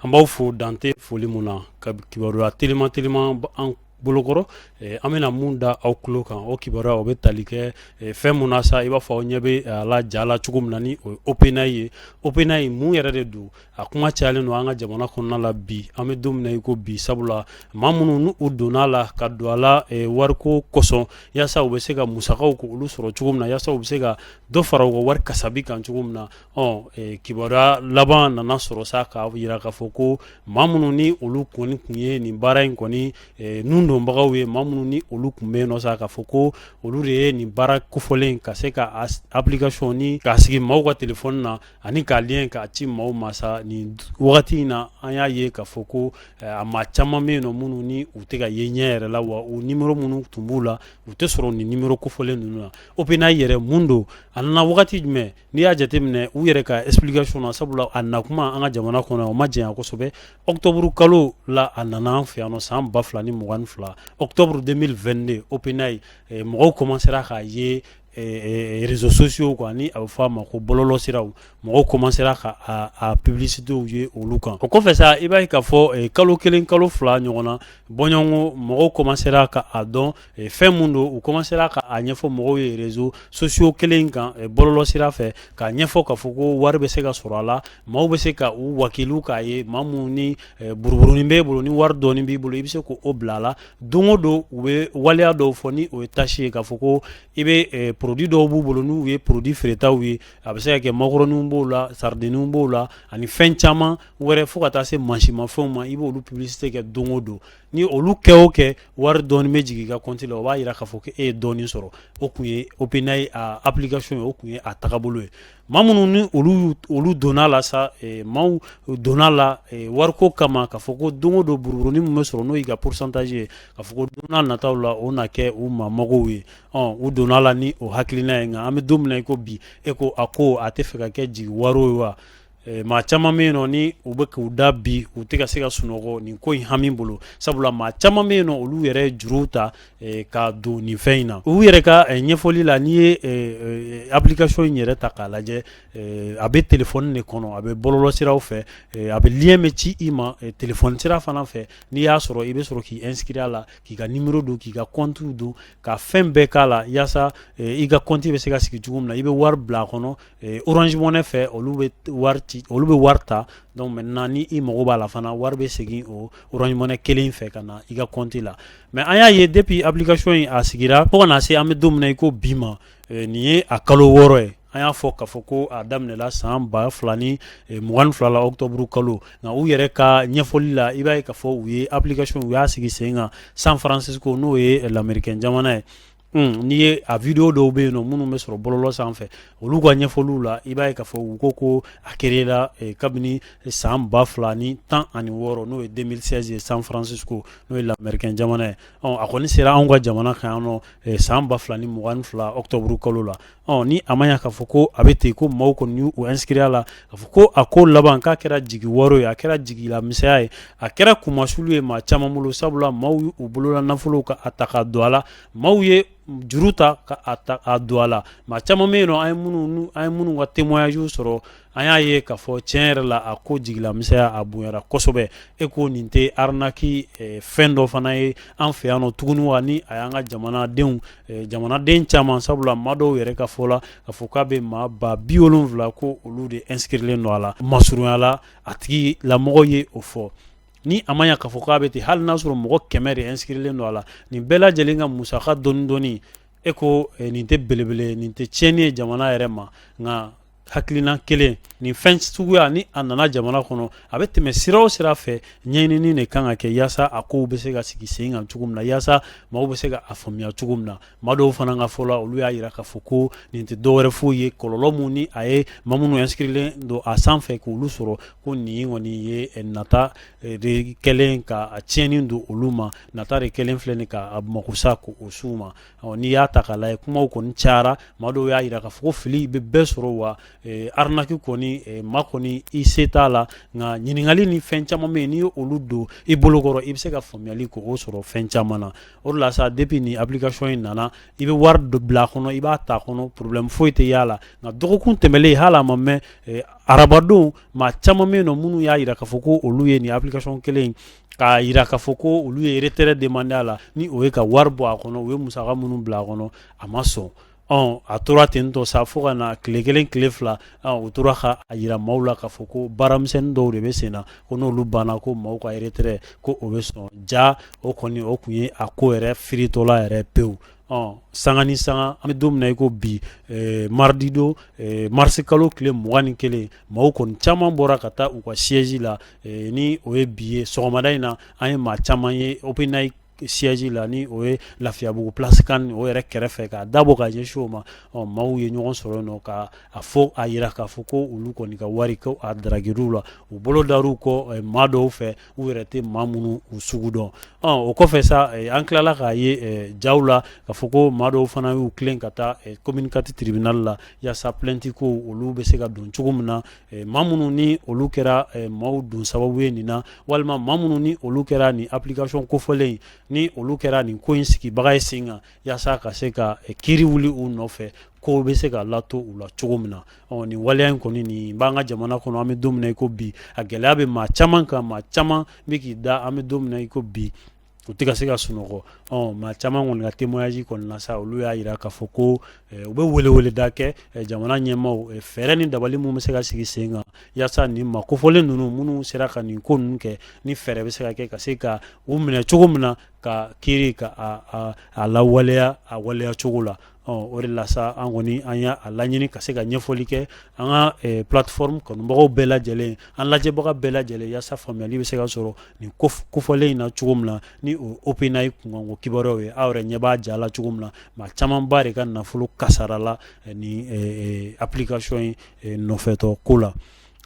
An b'aw fo dan tɛ foli min na ka kibaruya teliman teliman an bolokɔrɔ an bɛna min da aw tulo kan o kibaruya o bɛ tali kɛ fɛn min na sa i b'a fɔ aw ɲɛ bɛ a la ja la cogo min na ni o ye OpenAI ye OpenAI mun yɛrɛ de don a kuma cayalen don an ka jamana kɔnɔna la bi an bɛ don min na i ko bi sabula maa minnu n'u donna a la ka don a la wariko kosɔn yaasa u bɛ se ka musakaw ko olu sɔrɔ cogo min na yaasa u bɛ se ka dɔ fara u ka wari kasabi kan cogo min na kibaruya laban nana sɔrɔ sa k'a jira k'a fɔ ko maa minnu ni olu kɔni tun ye nin baara in kɔni ninnu donbagaw ye maa minnu ni olu tun bɛ yen nɔ sa k'a fɔ ko olu de ye nin baara kofɔlen ka se ka application in k'a sigi maaw ka telefɔni na ani k'a lien k'a ci maaw ma sa nin wagati in na an y'a ye k'a fɔ ko a maa caman bɛ yen nɔ minnu ni u tɛ ka ye ɲɛ yɛrɛ la wa u nimero minnu tun b'u la u tɛ sɔrɔ nin nimero kofɔlen ninnu na OpenAI yɛrɛ mun don a nana wagati jumɛn n'i y'a jate minɛ u yɛrɛ ka explication na sabula a na kuma an ka jamana kɔnɔ o ma janya kosɛbɛ octobre kalo la a nana an fɛ yan nɔ san ba fila ni mugan ni fila octobre deux mille vingt-deux OpenAI mɔgɔw kɔmansera k'a ye réseaux sociaux kan ni a bɛ f'a ma ko bɔlɔlɔsiraw mɔgɔw kɔmansera ka a publicitéw ye olu kan o kɔfɛ sa i b'a ye k'a fɔ kalo kelen kalo fila ɲɔgɔn na bɔɲɔgɔnko mɔgɔw kɔmansera k'a dɔn fɛn min don u kɔmansera k'a ɲɛfɔ mɔgɔw ye réseaux sociaux kelen kan bɔlɔlɔsira fɛ k'a ɲɛfɔ k'a fɔ ko wari bɛ se ka sɔrɔ a la maaw bɛ se ka u wakiliw k'a ye maa min ni buruburunin b'e bolo ni wari dɔɔni b'i bolo i bɛ se k'o bila a la don o don u bɛ waleya dɔw fɔ ni o ye tâche ye k'a fɔ ko i bɛ produit dɔw b'u bolo n'u ye produit feeretaw ye a bɛ se ka kɛ makɔrɔniw b'o la saridinw b'o la ani fɛn caman wɛrɛ fo ka taa se mansinmafɛnw ma i b'olu publicité kɛ don o don ni olu kɛ o kɛ wari dɔɔni bɛ jigin i ka compte la o b'a jira k'a fɔ ko e ye dɔɔni sɔrɔ o tun ye OpenAI a application ye o tun ye a tagabolo ye maa minnu ni olu donna la sa maaw donna la wariko kama k'a fɔ ko don o don buruburunin min bɛ sɔrɔ n'o y'i ka pourcentage ye k'a fɔ ko don n'a nataw la o na kɛ u maa magow ye ɔ u donna la ni o hakilina ye nka an bɛ don min na i ko bi e ko a ko a tɛ fɛ ka kɛ jigiwaaro ye wa Eh, maa caman bɛ yen nɔ ni u bɛ k'u da bi u tɛ ka se ka sunɔgɔ nin ko in hami bolo sabula maa caman bɛ yen nɔ olu yɛrɛ ye juruw ta eh, ka don nin fɛn in na u yɛrɛ ka eh, ɲɛfɔli la n'i ye application in yɛrɛ ta k'a lajɛ a bɛ telefɔni de kɔnɔ a bɛ bɔlɔlɔsiraw fɛ a bɛ lien bɛ ci i ma telefɔni sira fana fɛ n'i y'a sɔrɔ i bɛ sɔrɔ k'i inscrire a la k'i ka nimero don k'i ka compte don ka fɛn bɛɛ k'a la yaasa i ka compte bɛ se ka sigi cogo min na i bɛ wari bila a kɔnɔ orange money fɛ olu bɛ wari ta donc maintenant ni i mago b'a la fana wari bɛ segin o orange money kelen in fɛ ka na i ka compte la mais an y'a ye depuis application in a sigira fo ka na se an bɛ don min na i ko bi ma nin ye a kalo wɔɔrɔ ye an y'a fɔ k'a fɔ ko a daminɛla san ba fila ni mugan ni fila la octobre kalo nka u yɛrɛ ka ɲɛfɔli la i b'a ye k'a fɔ u ye application u y'a sigi sen kan San Francisco n'o ye lamɛrikɛn jamana ye N'i ye a video dɔw bɛ yen nɔ minnu bɛ sɔrɔ bɔlɔlɔ sanfɛ olu ka ɲɛfɔliw la i b'a ye k'a fɔ u ko ko a créela kabini san ba fila ni tan ani wɔɔrɔ n'o ye deux mille seize ye San Francisco n'o ye lamɛrikɛn jamana ye a kɔni sera anw ka jamana kan yan nɔ san ba fila ni mugan ni fila octobre kalo la ɔ ni a ma ɲa k'a fɔ ko a bɛ ten ko maaw kɔni y'u inscrire a la k'a fɔ ko a ko laban k'a kɛra jigiwaaro ye a kɛra jigilamisɛnya ye a kɛra kunmasulu ye maa caman bolo sabula maaw y'u bolola nafolow ka a ta ka don a la maaw ye juru ta ka a don a la maa caman bɛ yen nɔ an ye minnu ka témoignage sɔrɔ an y'a ye k'a fɔ cɛn yɛrɛ la a ko jigilamisɛnya a bonyara kosɛbɛ e ko nin tɛ arnaque eh, fɛn dɔ fana ye an fɛ yan nɔ tuguni wa ni a y'an ka jamanadenw eh, jamanaden caman sabula maa dɔw yɛrɛ ka fɔ la k'a fɔ k'a bɛ maa ba bi wolonwula ko olu de inscrilen don a la masurunya la a tigi lamɔgɔ ye o fɔ ni a ma ɲa k'a fɔ k'a bɛ ten hali n'a sɔrɔ mɔgɔ kɛmɛ de inscrilen don a la nin bɛɛ lajɛlen ka musaka dɔɔni dɔɔni e ko eh, nin tɛ belebele nin tɛ tiɲɛni ye jamana yɛrɛ ma nka hakilina kelen nin fɛn suguya ni a nana jamana kɔnɔ a bɛ tɛmɛ sira o sira fɛ ɲɛɲini de kan ka kɛ yaasa a kow bɛ se ka sigi sen kan cogo min na yaasa maaw bɛ se ka a faamuya cogo min na maa dɔw fana ka fɔ la olu y'a yira k'a fɔ ko nin tɛ dɔwɛrɛ foyi ye kɔlɔlɔ min ni a ye maa minnu inscrilen don a sanfɛ k' olu sɔrɔ ko nin kɔni ye nata de kɛlen ka a tiɲɛni don olu ma nata de kɛlen filɛ nin k'a makosa ko o su ma n'i y'a ta k'a lajɛ kumaw kɔni cayara maa dɔw y'a yira k'a fɔ ko fili bɛ bɛɛ sɔrɔ wa arnaque kɔni maa kɔni i se t'a la nka ɲininkali ni fɛn caman bɛ yen n'i ye olu don i bolokɔrɔ i bɛ se ka faamuyali ko o sɔrɔ fɛn caman na o la sa depuis nin application in nana i bɛ wari dɔ bila a kɔnɔ i b'a ta kɔnɔ problème foyi tɛ y'a la nka dɔgɔkun tɛmɛlen in hali a ma mɛn arabadon maa caman bɛ yen nɔ minnu y'a jira k'a fɔ ko olu ye nin application kelen k'a jira k'a fɔ ko olu ye retrait demander a la ni o ye ka wari bɔ a kɔnɔ u ye musaka minnu bila a kɔnɔ a ma sɔn ɔ a tora ten tɔ sa fo ka na tile kelen tile fila u tora ka a jira maaw la k'a fɔ ko baaramisɛnnin dɔw de bɛ sen na ko n'olu banna ko maaw ka retrait ko o bɛ sɔn jaa o kɔni o tun ye a ko yɛrɛ firitɔla yɛrɛ pewu ɔ sanga ni sanga an bɛ don min na i ko bi mardi don marisi kalo tile mugan ni kelen maaw kɔni caman bɔra ka taa u ka siège la eh, ni o ye bi ye sɔgɔmada in na an ye maa caman ye OpenAI siège la ni o ye lafiyabugu place kan o yɛrɛ kɛrɛfɛ k'a dabɔ ka ɲɛsin o ma ɔ maaw ye ɲɔgɔn sɔrɔ yen nɔ ka a fɔ a yira k'a fɔ ko olu kɔni ka wari ko a daragiriw la u bolo dar'u kɔ maa dɔw fɛ U yɛrɛ tɛ maa minnu u sugu dɔn o kɔfɛ sa an tilala k'a ye jaw la k'a fɔ ko maa dɔw fana y'u tilen ka taa commune quatre tribunal la yaasa plainte ko olu bɛ se ka don cogo min na maa minnu ni olu kɛra maaw don sababu ye nin na walima maa minnu ni olu kɛra nin application kofɔlen in ni olu kɛra nin ko in sigibaga ye sen kan yaasa ka se ka kiiri wuli u nɔfɛ ko bɛ se ka lato u la cogo min na ɔ nin waleya in kɔni nin b'an ka jamana kɔnɔ an bɛ don min na i ko bi a gɛlɛya bɛ maa caman kan maa caman bɛ k'i da an bɛ don min na i ko bi u tɛ ka se ka sunɔgɔ ɔ maa caman kɔni ka témoignage kɔni na sa olu y'a jira k'a fɔ ko eh, u bɛ weleweleda kɛ eh, jamana ɲɛmaaw eh, fɛɛrɛ ni dabali mun bɛ se ka sigi sen kan yaasa nin maa kofɔlen ninnu minnu sera ka nin ko ninnu kɛ ni fɛɛrɛ bɛ se ka kɛ ka se ka u minɛ cogo min na ka kiiri ka a, a, a lawaleya a waleya cogo la ɔ o de la sa an kɔni an y'a laɲini ka se ka ɲɛfɔli kɛ an ka eh, plateforme kanubagaw bɛɛ lajɛlen an lajɛbaga bɛɛ lajɛlen yaasa faamuyali bɛ se ka sɔrɔ nin kof- kofɔlen in na cogo min na ni o ye OpenAI kunkanko kibaruyaw ye aw yɛrɛ ɲɛ b'a ja la cogo min na maa camanba de ka nafolo kasarala eh, nin eh, eh, application in eh, nɔfɛtɔ ko la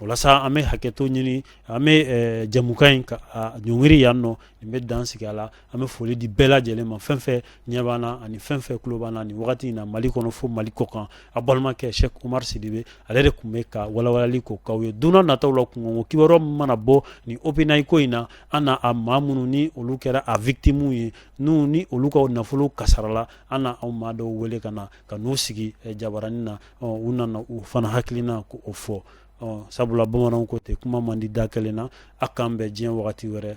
o la sa an bɛ hakɛto ɲini an bɛ eh, jɛmukan in ka a ɲɔngiri yan nɔ nin bɛ dan sigi a la an bɛ foli di bɛɛ lajɛlen ma fɛn fɛn ɲɛ b'an na ani fɛn fɛn tulo b'an na nin wagati in na Mali kɔnɔ fo Mali kɔkan a balimakɛ Sɛki Umaru Sidibe ale de tun bɛ ka walawalali k'o k'aw ye don n'a nataw la kunkanko kibaruya min mana bɔ nin OpenAI ko in na an na a maa minnu ni olu kɛra a victimes ye n'u ni olu ka nafolo kasarala an na a maa dɔw wele ka na ka n'u sigi eh, jabaranin na ɔ u na na u fana hakilina ko fɔ ɔ sabula bamananw ko ten kuma man di da kelen na a k'an bɛn diɲɛ wagati wɛrɛ